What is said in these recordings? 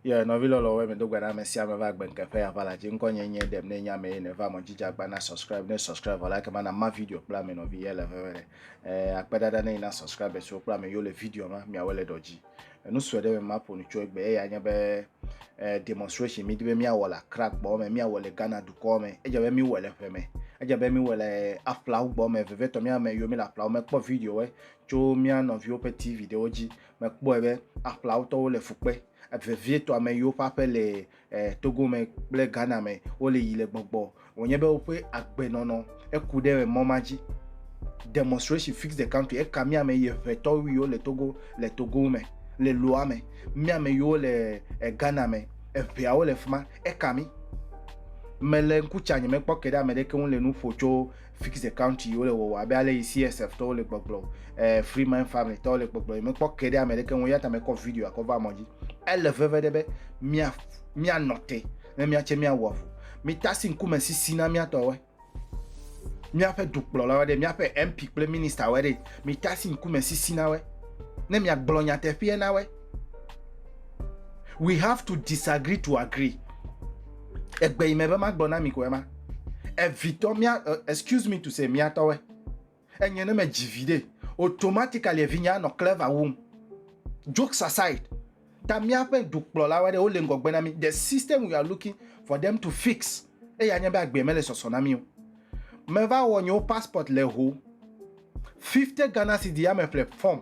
ye nɔvi lɔlɔ wɛ mi do gbana me sia me va gbe nke ya vala ji ŋkɔ nye nye dem ne nya me ne va mo jija gbana subscribe ne subscribe vala ke mana ma video kpla me nɔvi ye le veve ne eh, akpe dada ne ina subscribe so kpla me yo le video ma mi awele doji Enu sue ɖe me maƒo nu tso egbe eya nye be eh, demonstration midi be míawɔ le Accra gbɔ me, míawɔ le Ghana dukɔ me. Edze be míwɔ le ƒe me. Edze be míwɔ le aƒlawo gbɔ me. Vevietɔ mía ame yiwo míle aƒlawo me kpɔ videowo tso mía nɔviwo ƒe TV ɖewo dzi. Mekpɔe be aƒlawo tɔwo le fu kpe. Vevietɔ ame yiwo ƒe aƒe le eh, Togo me kple Ghana me wole yi le gbɔgbɔ wònye be woƒe agbenɔnɔ eku ɖe mɔ ma dzi. Demonstration fix the country eka mía me yi ʋetɔ wuiwo le Togo le Togo me le loa me mía me yiwo le eh, Ghana me eʋeawo le fima eka mi. Mele ŋku tsa nye mekpɔ ke ɖe ame ɖeke ŋu le nu ƒo tso fix the count yiwo le wɔwɔ abe ale yi csf tɔwo le gbɔgblɔ eh, free mind family tɔwo le gbɔgblɔ yi mekpɔ ke ɖe ame ɖeke ŋu yata mekɔ video akɔ va mɔ dzi ele veve ɖe be mia mia nɔte ne mia tse mia wɔfu mi tasi ŋkume sisi na mia tɔwe miaƒe dukplɔla wa ɖe miaƒe mp kple minister wa ɖe mi tasi ŋkume sisi na we ne mia gblɔ nyateƒea na we we have to disagree to agree Egbe yi me be magblɔ na mi koe ma. Evitɔ mia uh, excuse me to say miatɔwe. Enye ne me dzi vi ɖe. Automatically evinya nɔ clever wum. Jokes aside, ta míaƒe dukplɔlawo aɖe wole ŋgɔgbe na mí. The system we are looking for them to fix. Eya nye be agbe mele sɔsɔ na mí o. Meva wɔ nyewo passport le ho. 50 Ghana cedi ya me ƒle form.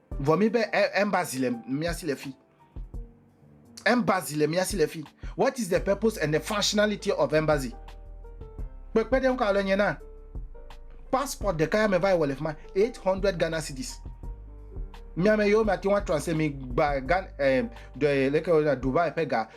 Vɔ mi be embassy le mia si le fi. Embassy le mia si le fi. What is the purpose and the functionality of embassy? Kpekpe ɖe ŋkɔ le nye na. Passport ɖeka ya me va wɔ le fima 800 Ghana cedis. Mia me yo mia ti wa translate mi gba gan eh, de leke wona Dubai pe ga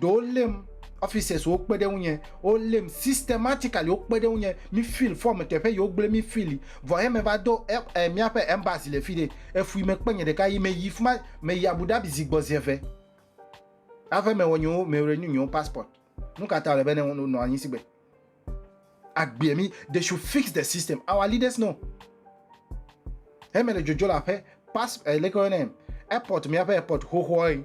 ɖewo lém officers wo kpe ɖe ŋu nye wo lém systematically wo kpe ɖe ŋu nye mi feel form teƒe yi wo gblẽ mi feel vɔ he me va do ɛ ɛ miaƒe embassy le fi ɖe efui me kpe nye ɖeka yi me yi fuma me yi abu dhabi zi gbɔ zi eve hafi me wɔ nye wo me renew nye wo passport nu ka ta le be ne wo nɔ anyi si gbe agbea mi they should fix the system our leaders know he me le dzodzo le aƒe pas eh, leke wɔnɛ airport miaƒe airport xoxoa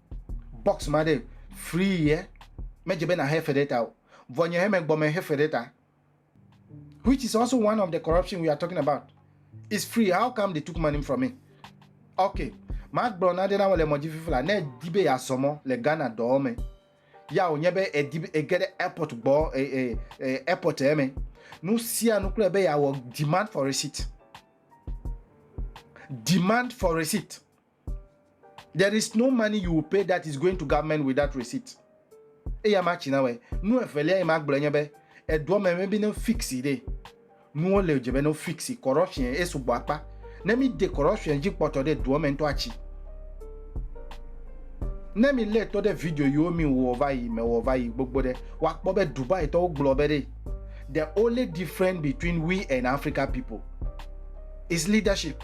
box ma ɖe free ye medze be na he fe ɖe ta o vɔ nye he me gbɔ me he fe ɖe ta which is also one of the corruption we are talking about is free how come they took money from me okay ma gblɔ na ɖe na wole mɔdzi fifla ne di be ya sɔmɔ le Ghana dɔɔ me ya o nye be edi be ege ɖe airport gbɔ e e e airport e me nu sia nu kple be ya wɔ demand for receipt demand for receipt There is no money you will pay that is going to government without receipt. Eya ma tsi na wɛ. Nu evelia yi ma gblɔ nye be edoa me be ne fixi ɖe. Nuwo le dze be ne fixi corruption esu gbɔ akpa. Ne mi de corruption dzi kpɔtɔ ɖe doa me ŋutɔ atsi. Ne mi lé tɔ ɖe video yiwo mi wɔ va yi me wɔ va yi gbogbo ɖe, wa kpɔ be Dubai tɔwo gblɔ be ɖe the only difference between we and Africa people is leadership.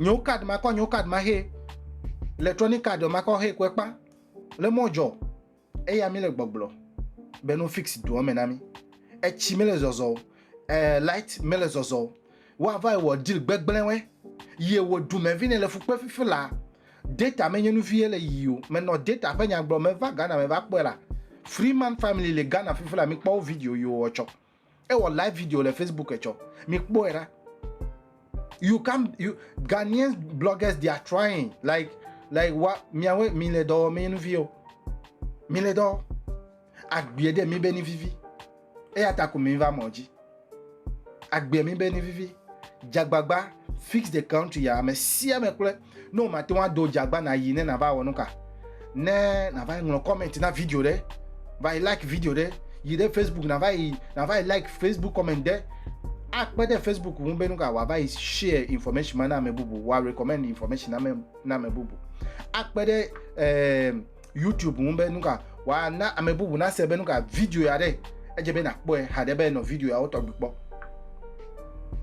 nyewo card ma kɔ nyewo card ma he electronic card ma kɔ he kɔe kpa le mɔ dzɔ eya mi le gbɔgblɔ be no fix doɔ me na mi etsi mi le zɔzɔ o eh, light mi le zɔzɔ o wa va wɔ deal gbegblẽ wɛ ye wo du me vi ne le fukpe fifi la data me nye nu vie le yi o me nɔ data ƒe nyagblɔ me va Ghana me va kpɔe la Freeman family le Ghana fifi la mi kpɔ video yo ɔtsɔ ewɔ live video le facebook etsɔ mi kpɔe ɖa you can you ghanaian bloggers they are trying like like wa miawe mi le dɔwɔ mi nu viwo mi le dɔ agbie de mi be ni vivi eya ta ko mi va mɔ dzi agbie mi be ni vivi jagbagba fix the country ya me sia me kple Ne wòmate ŋu ado dzi agba nàyi ne nàva wɔ nu ka? Ne nàva yi ŋlɔ comment na video ɖe, va yi like video ɖe, yi ɖe Facebook nàva yi nàva yi like Facebook comment ɖe, akpe ɖe Facebook ŋu be nu ka wòava yi share information ma na ame bubu, wòarecommend information na ame na ame bubu, akpe ɖe eh, YouTube ŋu be nuka wòana ame bubu nase be nuka video ya ɖe edze be nakpɔe haɖe be nɔ video yawo tɔgbi kpɔ.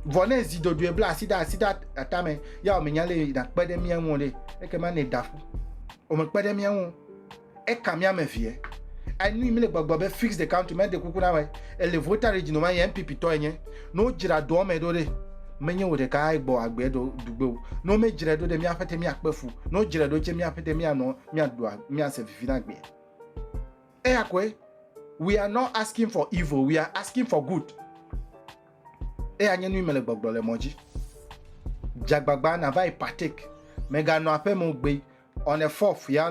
Vɔ ne zi dodoe bla asi ɖe asi ɖe atame ya wòmenya le nakpe ɖe mía ŋu ɖe ekema ne da ƒu wòmekpe ɖe mía ŋu eka mía me vie. Enu yi mi le gbɔgbɔ be fix the country mede kuku na wɔ ele vota ɖe dzinoma yɛ NPP tɔ enye. Ne wodzra doɔ me ɖo ɖe menye wò ɖeka egbɔ agbe ɖo dugbe o. Ne womedzrae ɖo ɖe mía ƒete mía kpe fu. Ne wodzrae ɖo tse mía ƒete mía nɔ miaɖu miase vivi na gbea eya koe we are not asking for evil we are asking for good eya nye nu yi mele gbɔgblɔ le mɔ dzi dzagbagba nava yi partake meganɔ aƒeme gbe on a fourth ya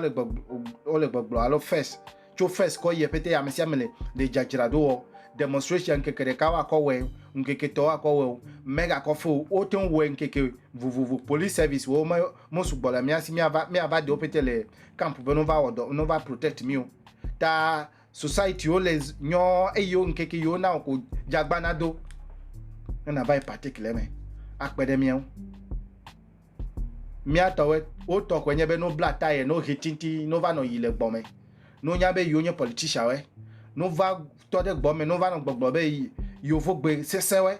wole gbɔgblɔ alo first Tso first kɔ yie pete amesiame le ɖe dzadzra ɖo wɔ demonstration ŋkeke ɖeka wo akɔ wɛ ŋkeke tɔ wo akɔ wɛ o me ga kɔ feo wo teŋ wɛ ŋkeke vovovo police service wo me mo sugbɔ le miasi mia va mia va dewo pete le camp be no va wɔ dɔ no va protect mio ta society wo le nyɔ eyiwo ŋkeke yiwo na ko dzagbana do ne na va yi partake le me akpe ɖe miawo. Mía tɔwɛ, wo tɔ kɔɛ nye be no bla taye, no ɣi tinti, no va nɔ yi le gbɔmɛ. No nya be yo nye politician wɛ. No va tɔ ɖe gbɔmɛ, no va nɔ gbɔgblɔ be yo vo gbe sese wɛ.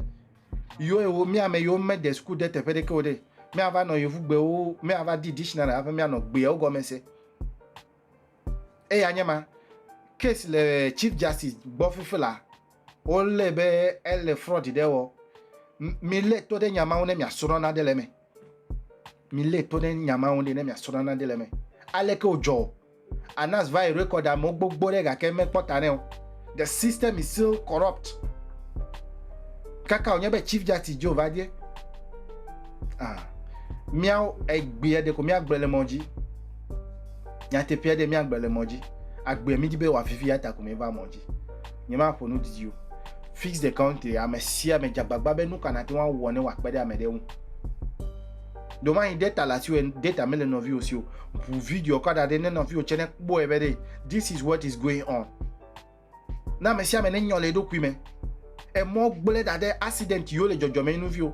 Yo e wo, mía mɛ yo me de school de teƒe ɖeke o ɖe. Mía va nɔ yovu gbe wo, mía va di dictionary haƒe mía nɔ gbe wo gɔmɛ se. Eya nye ma. Case le Chief Justice gbɔ fifila. Wolé be ele fraud ɖe wɔ. Milé to ɖe nya mawo ne miasrɔ̃ nane le eme. Milé to ɖe nya mawo ne miasrɔ̃ nane le eme. Aleke wòdzɔ o? Anas va yi record amewo gbogbo ɖe gake mekpɔ ta nɛ o. The system is still corrupt. Kaka wònye be Chief Justice dzo va die. Ah. Míawo egbea ɖeko míagblẽ le mɔ dzi. Nyateƒea ɖe míagblẽ le mɔ dzi. Agbea mídi be wòavivi ya ta ko míeva mɔ dzi. Nyemaƒo nu didi o. Fix the country, ame sia ame dze agbagba be nu ka nate ŋu awɔ ne wòakpe ɖe ame ɖe ŋu. Ɖo manyi de ta le asiwò de ta mele nɔviwò si o. Ʋu video kɔ da ɖi ne nɔviwò tsɛ nekpɔe be ɖe this is what is going on. Na ame sia ame nenyɔ le eɖokui me. Emɔ gblẽ ɖa ɖe accident yiwo le dzɔdzɔme yi nu viwo.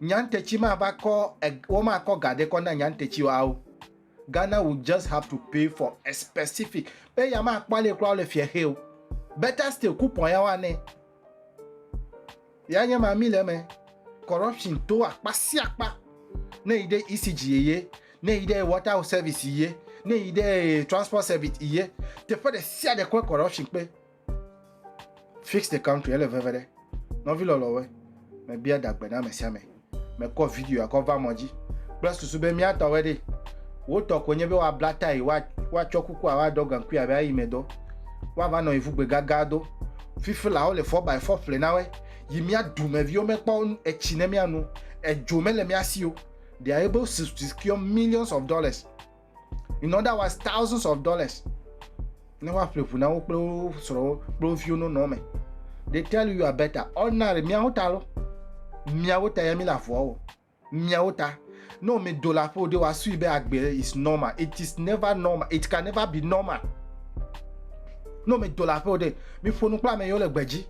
Nyantetsi mava kɔ eg woma kɔ ga ɖe kɔ na nyantetsi wawo. Ghana will just have to pay for a specific be ya ma kpɔ le kura le fie xe o. Better still coupon ya wa ne. Ya nye ma mi le me. Corruption to akpa si akpa. Ne yi ɖe ECG ye, ne yi ɖe water service ye, ne yi ɖe transport service ye, teƒe ɖe sia ɖe kɔe corruption kpe. Fix the country ele veve ɖe. Nɔvi lɔlɔwe, mebia dagbe na ame sia ame. Mekɔ video akɔ va mɔ dzi kple susu be mía tɔwe ɖe. Wò tɔ koe nye be woabla tae, woatsɔ kukua woaɖɔ gaŋkui abe ayi me dɔ. Woava nɔ ivu gbe gagã do. Fifilawo le four by four ƒle na we yi mía dumeviwo mekpɔ etsi ne mía nu. Edzo mele mía si o. Ɖe aye be wo secure millions of dollars. in other words thousands of dollars ne woaƒle ʋu na wo kple wo srɔ̃wo kple wo viwo nonɔ me they tell you are better ordinary miawo ta lo miawo ta ya mi le avɔa o miawo ta ne wo medo le aƒe o de woasui be agbe is normal it is never normal it can never be normal ne wo medo le aƒe o de miƒo nu kple ame yiwo le gbe dzi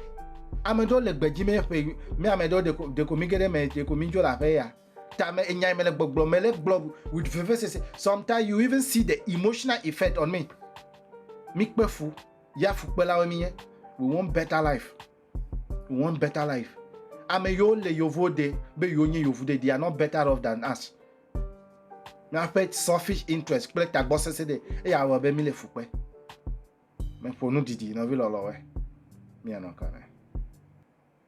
ame ɖewo le gbe dzi mi ƒe mi ame ɖewo deko deko mi ge ɖe me deko mi dzo le aƒe ya. ta me enyae mele gbɔgblɔ mele gblɔ with vevesese sometimes you even see the emotional effect on me mi kpe fu ya fukpelawo mi ye we want better life we want better life ame yiwo le yovo de be yiwo nye yovu de they are not better off than us miaƒe selfish interest kple tagbɔ sese de eya awɔ be mi le fukpe meƒo nu didi nɔvi lɔlɔwe mianɔ kame